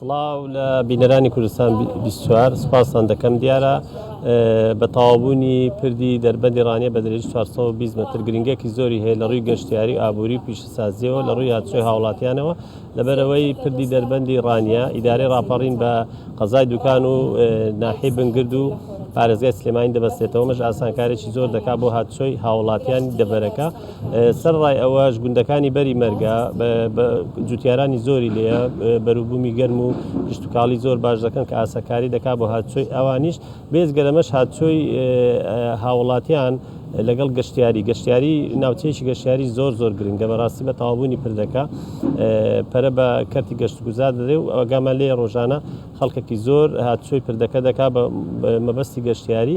سڵاو لە بینەرانی کوردستان بیست و چوار سوپاستان دەکەم دیارە بە تەواوبوونی پردی دەربەندی ڕانیە بە درێژی 420 متر گرنگێکی زۆری هەیە لە ڕووی گەشتیاری و ئابووری و پیشەسازیەوە لە ڕووی هاتوچۆی هاوڵاتیانەوە لەبەرەوەی پردی دەربەندی ڕانیە ئیدارەی ڕاپەڕین بە قەزای دوکان و ناحی بنگرد و پارێزگای سلێمانی دەبەستێتەوە مەش ئاسانکارێکی زۆر دەکات بۆ هاتوچۆی هاوڵاتیانی دەبەرەکە سەرەڕای ئەوەش گوندەکانی بەری مەرگە جوتیارانی زۆری لێیە، بەروبوومی گەرم و کشتوکاڵی زۆر باش دەکەن کە ئاسەکاری دەکات بۆ هاتوچۆی ئەوانیش، بێجگە لەمەش هاتوچۆی هاووڵاتیان لەگەڵ گەشتیاری، گەشتیاری ناوچەیەکی گەشتیاری زۆر زۆر گرنگە بەڕاستی بە تەواوبوونی پردەکە پەرە بە کەرتی گەشتوگوزار دەدرێت و ئاگامان لێیە ڕۆژانە خەڵکێکی زۆر هاتوچۆی پردەکە دەکات بە مەبەستی گەشتیاری.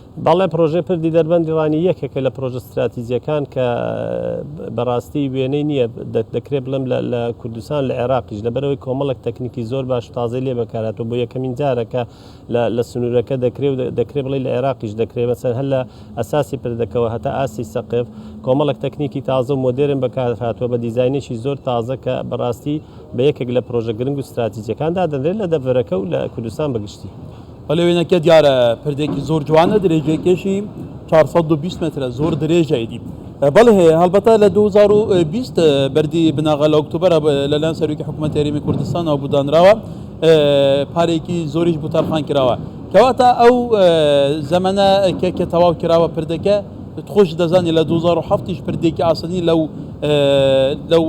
بەڵێ پرۆژەی پردی دەربەندی ڕانی یەکێکە لە پرۆژە ستراتیجیەکان کە بەڕاستی وێنەی نییە دەکرێت بڵێم لە کوردستان لە عێراقیش لەبەرەوەی کۆمەڵک تەکنیکی زۆر باش تازەی لێ بەکاراتەوە بۆ یەکەمین جارەکە لە سنوورەکە دەکرێت و دەکرێت بڵێ لە عێراقیش دەکرێت مەسەر هەر لە ئەساسی پردەکەەوە هەتا ئاسی سەقف کۆمەڵک تەکنیکی تازە و مۆدرن بەکارهاتوە بە دیزینێکی زۆر تازە کە بەڕاستی بە یەکێک لە پرۆژە گرنگ و ستراتیجەکان دادەنرێت لە دەڤەرەکە و لە کوردستان بەگشتی. بەلێ وێنەکە دیارە پردێکی زۆر جوانە درێژەکەشی 420 مترە زۆر درێژایدی بەڵێ هەیە هەڵبەتە لە 2020 بەری بناغە لە ئۆکتوبەر لەلایەن سەرۆکی حکوومەت یاریمی کوردستانەوە بودانراوە پارێکی زۆریش بوتەرخان کراوە کەواتە ئەو زەمەە کە کە تەواو کراوە پردەکە خۆش دەزانانی لە 2007 پردێکی ئاسنی لەو لەو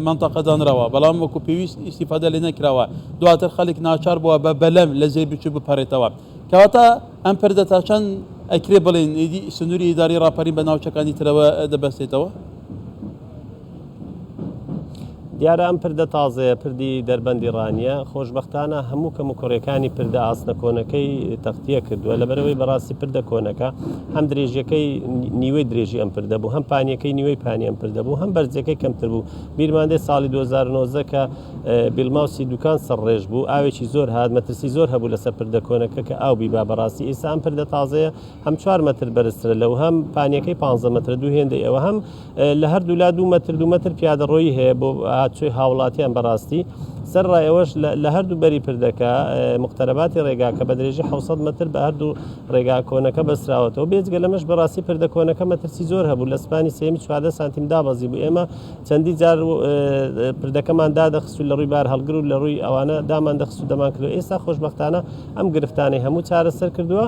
منتەقەدانراوە بەڵام وەکو پێویست ئیسیفادە لێ نەکراوە دواتر خەلک ناچار بوە بە بەلەم لە جێی بچو بپەرێتەوە کەواتە ئەم پردە تا چەند ئەکرێ بڵێن ئیدی سنوری ئیداری راپەرین بە ناوچەکانی ترەوە دەبەستێتەوە؟ دیارە ئەم پردە تازەیە پردی دەربەندی ڕانیە خۆشببختانە هەموو کەم و کوڕەکانی پردە ئاسنە کۆنەکەی تەختیە کردووە لە بەرەوەی بەڕاستی پردە کۆنەکە هەم درێژەکەی نیوەی درێژی ئەم پردە بوو هەم پانیەکەی نیوەی پانی ئەم پردە بوو هەم بەرزەکەی کەمتر بوو بیرماندەی ساڵی 2009 کە بیلماوسی دوکان سەر ڕێژ بوو ئاوێکی زۆر هات مەترسی زۆر هەبوو لەسەر پردە کۆنەکە کە ئاو بیبا بەڕاستی ئیسا ئەم پردە تازەیە هەم چوار مەتر بەرزترە لەو هەم پانیەکەی پانزە مەترە دوو هێندەی ئەوە هەم لە هەردوو لا دوو مەتر دوو مەتر پیادەڕۆیی هەیە بۆ هاتچوی هاوڵاتیان بەڕاستی سەر ڕایەوەش لە هەردوو بەری پردەکە مختەرەباتی ڕێگا کە بە درێژی 600 متر بە هەردوو ڕێگا کۆنەکە بەسراوەتەوە بێجگە لەمەش بەڕاستی پردە کۆنەکە مەترسی زۆر هەبوو لە سپانی سێمی چواردە سانتیم دابەزی بوو ئێمە چەندین جار پردەکەمان دادەخست و لە ڕووی بارهەڵگر و لە ڕووی ئەوانە داماندەخست و دەمانکردەوە، ئێستا خۆشبەختانە ئەم گرفتانەی هەموو چارەسەر کردووە،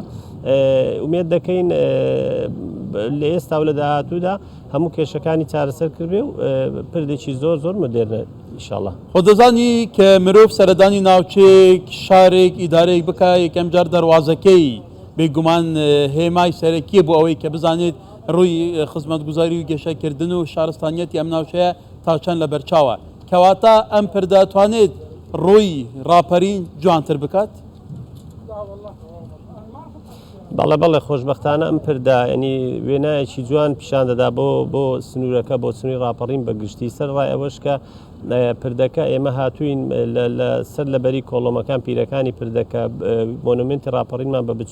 ئومێد دەکەین لە ئێستا و لە داهاتوودا هەموو کێشەکانی چارەسەر کردبێ و پردێکی زۆر زۆر مۆدێرنە ئیشاڵڵا. خۆت دەزانی کە مرۆڤ سەردانی ناوچەیەک، شارێک، ئیدارەیەک بکا، یەکەم جار دەروازەکەی بێگومان هێمای سەرەکییە بۆ ئەوەی کە بزانێت، ڕووی خزمەتگوزاری و گەشە کردن و شارستانیەتی ئەم ناوچەیە تا چەند لە بەرچاوە؟ کەواتە ئەم پر دەتوانێت ڕووی ڕاپەرین جوانتر بکات؟ بەڵێ بەڵێ خۆشبەختانە ئەم پردە ینی وێنایەکی جوان پیشان دەدا بۆ بۆ سنوورەکە بۆ سنووری ڕاپەڕین بە گشتی سەر ڕای ئەوەش کە پردەکە ئێمە هاتوین سەر لەبەری کۆڵۆمەکان پیرەکانی پردەکە مۆنومنتی ڕاپەڕینمان بە بچ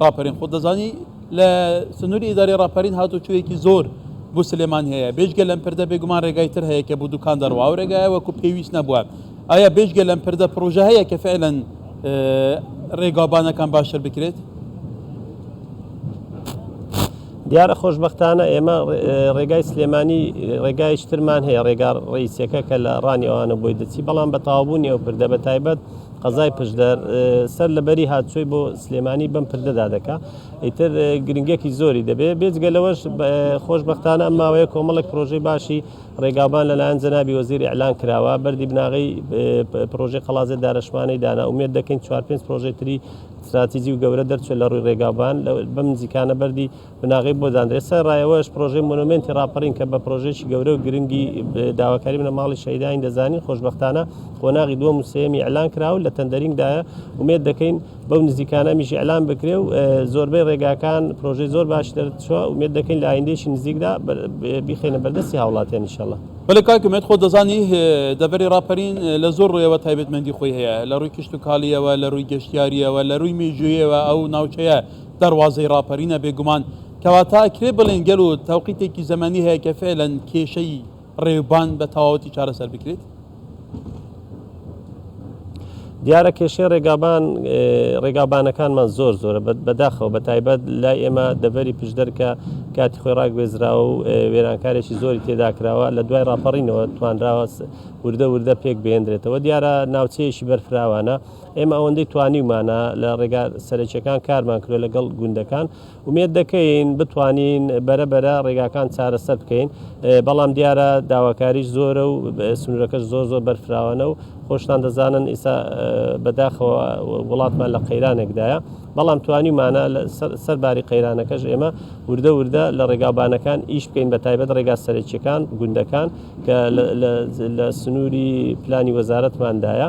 ڕاپەرین خۆت دەزانی لە سنووری ئیدارەی ڕاپەرین هاتوچۆیەکی زۆر بۆ سلێمان هەیە بێژگە لەم پردە بێگومان ڕێگای تر هەیە کە بۆ دوکان دەڕوا و ڕێگایە وەکو پێویست نەبووە ئایا بێژگە لەم پردە پرۆژە هەیە کە فعلەن ڕێگابانەکان باشتر بکرێت دیارە خۆشببختانە ئێمە ڕێگای سلێمانی ڕێگای شترمان هەیە ڕێگا ڕیسەکە کە لە ڕانیەوانە بۆی دەچی بەڵام بە تاوبوونی ئەو پردە بە تایبەت قەزای پشدەر سەر لە بەری هاتچۆی بۆ سلێمانی بەم پردەدا دەکا ئیتر گرنگێکی زۆری دەبێ بێجگە لەوەش خۆشببختانە ئەم ماوەیە کۆمەڵێک پرۆژەی باشی ڕێگاوبان لەلایەن جەنابی وەزیر ئەلان کراوە بەری بناغی پرۆژی قەڵازێ دارشمانی دانا ومێت دەکەین چوار پێنج پرۆژەی تری استراتیجی و گەورە دەرچێت لە ڕووی ڕێگاوبان بەم نزیکانە بەری بناغەی بۆ دانرێت، سەرەڕای ئەوەش پرۆژەی مۆنۆمێنتی ڕاپەڕین کە بە پرۆژەیەکی گەورە و گرنگی داواکاری بنەماڵی شەهیدانین دەزانین، خۆشبەختانە قۆناغی دووەم و سێیەمی ئیعلان کرا و لە تەندەرینگدایە، ئومێد دەکەین بەو نزیکانە ئەمیش ئیعلان بکرێ و زۆربەی ڕێگاکان پرۆژەی زۆر باشی دەرچووە، ئومێد دەکەین لە ئایندەیەکی نزیکدا بیخەینە بەردەستی هاوڵاتیان ان شاءاللە. بەلێ کاک ئومێد خۆت دەزانی دەڤەری ڕاپەرین لە زۆر ڕوویەوە تایبەتمەندی خۆی هەیە، لە ڕووی کشتوکاڵییەوە، لە ڕووی گەشتیارییەوە، لە ڕووی مێژووییەوە ئەو ناوچەیە، دەروازەی ڕاپەرینە بێگومان، کەواتە ئەکرێ بڵێین گەل و تەوقیتێکی زەمەنی هەیە کە فێلەن کێشەی ڕێوبان بە تەواوەتی چارەسەر بکرێت؟ دیارە کێشەی ڕێگابان ڕێگابانەکانمان زۆر زۆرە بەداخەوە بە تایبەت لای ئێمە دەڤەری پشدەرکە کاتی خۆی ڕاگوێزراوە و وێرانکارێکی زۆری تێداکراوە لە دوای ڕاپەڕینەوە توانراوە وردە وردە پێک بێندرێتەوە دیارە ناوچەیەکی بەرفراوانە ئێمە ئەوەندەی توانیومانە لە ڕێگا سەرەکیەکان کارمان کرێ لەگەڵ گوندەکان ومێت دەکەین بتوانین بەرە بەرە ڕێگاکان چارەسەر بکەین بەڵام دیارە داواکاریش زۆرە و سنوورەکەش زۆر زۆر بەرفراوانە و خۆشتان دەزانن ئیسا بەداخەوە وڵاتمان لە قەیرانێکدایە بەڵام توانیمانە سەر باری قەیرانەکەش ئێمە وردە وردە لە ڕێگاوبانەکان ئیش بکەین بە تایبەت ڕێگا سەرەکیەکان گوندەکان کە لە سنووری پلانی وەزارەتماندایە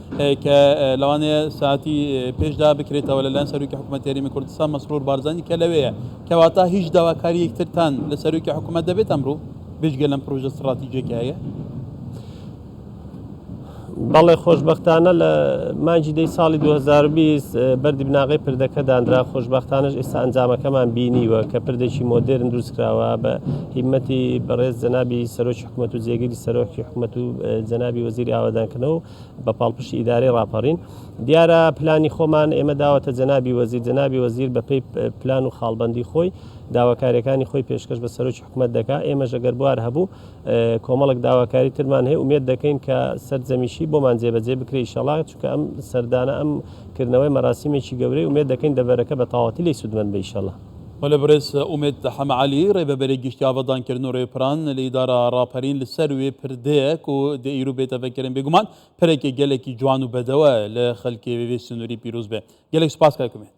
کە لەوانەیە ساتی پێشدا بکرێتەوە لەلایەن سەرۆکی حکوومەت هەرێمی کوردستان مەسرور بارزانی کە لەوەیە کەواتە هیچ داواکاریەک ترتان لە سەرۆکی حکوومەت دەبێت ئەمڕوو بێژگە لەم پروۆژە سراتیجێکی هەیە بەڵێ خۆشببختانە لە مانجی دەی ساڵی 2020 بەری بناغی پردەکە دانرا خۆشببختانش ئێستا ئەنجامەکەمان بینیوە کە پردێکی مۆدررن دروستکراوە بە هیمەتی بەڕێز جەنابی سەرۆکی حکومەت و جێگری سەرۆکی حکومەت و جەنابی وەزیری ئاوادانکردنەوە و بە پاڵپشتی ئیدارەی ڕاپەڕین دیارە پلانی خۆمان ئێمە داوەتە جەنابی وەزیر جەنابی وەزیر بەپی پلان و خاڵبندی خۆی داواکاریەکانی خۆی پێشکەش بە سەرۆکی حکومت دەکا ئێمە ژەگەر بوار هەبوو کۆمەڵک داواکاری ترمان هەیە ومێت دەکەین کە سەررجەمیشی بۆمان جێبەجێ بکری شەڵات چکە ئەم سەردانە ئەم کردنەوەی مەراسیمێکی گەورەی ومێت دەکەین دەبەرەکە بە تاواتی لی سوودمەند بەیشەڵە وەلێ بەڕێز ئومێد حەمە عەلی، رێبەبەرێ گشتی ئاڤادانکردن و رێپران لە ئیدارە راپەرین لە سەر وێ پردێک و دەئیرو بێتەڤە کەرێن بێگومان پرێکێ گەلەکی جوان و بەدەوە لە خەلکێ وێ سنوری پیروز بێ. گەلێک سوپاس کاک ئومێد.